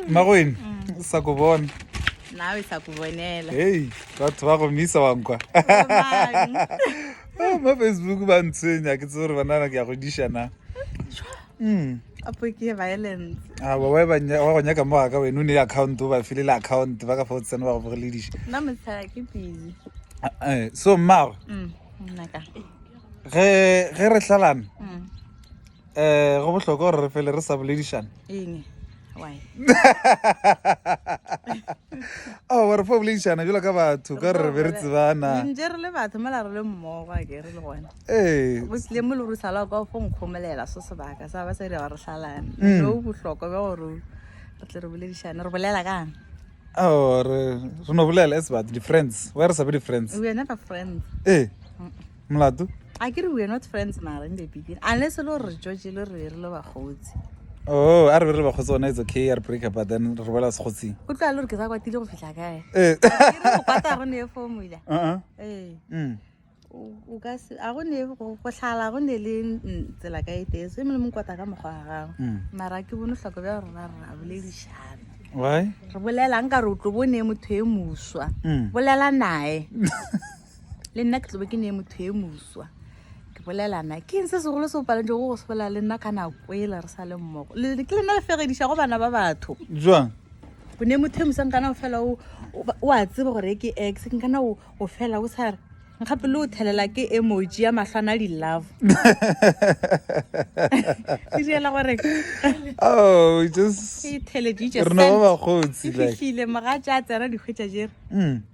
magwene sa ku bona nawe sa ku bonela hei batho ba go misa wa nkwa oh, mo facebook ba ntshwenya ke tse gore banana ke ya go diša na hmm. apo ke violence a ba wa ba nya wa go nya ka moga ka wena o ne account o ba file le account ba ka fa o tsena ba go bogele diša na mo tsaya ke busy eh so mmago mm nna ka ge ge re hlalana mm. um go bohlokwa gore re fele re sa boledišana oh, gore fo boledišana jalo ka batho ka gore re be re tsebana ore re no bolela as but di-friends wa re sa be di-friends ee molato a ke re we're not friends mara in the beginning unless e le gore re tšotše le re re le bakgotsi oh a re be re bakgotsi gona it's okay a re break but then re boela sekgotsing o tloa le gore ke sa kwatile go fitlha kae ee go kwata go ne formula uh-uh. ee mm. o ka se a go ne go tlhala go ne le tsela ka e tese e mole mo kwata ka mokgwa wa gago mm. mara ke bone tlhoko bja rona re a boledišana re bolelang ka re o tlo bone motho e moswa mm. bolela naye le nna ke tlobe ke ne motho e moswa ke bolelana ke eng se segolo se o palantse go go se bolela le nna ka nako ele re sa le mmogo ke le nna le fegediša go bana ba batho jwang o ne motho e mosang kana o fela o a tsebe gore ke ex ke kana o fela o sa re gape le o thelela ke emoji ya matlho a na di-love ke diela gore oh, e theleditše rena ba bagotsi fihlile moga tša tsena dikgwetša jere mm.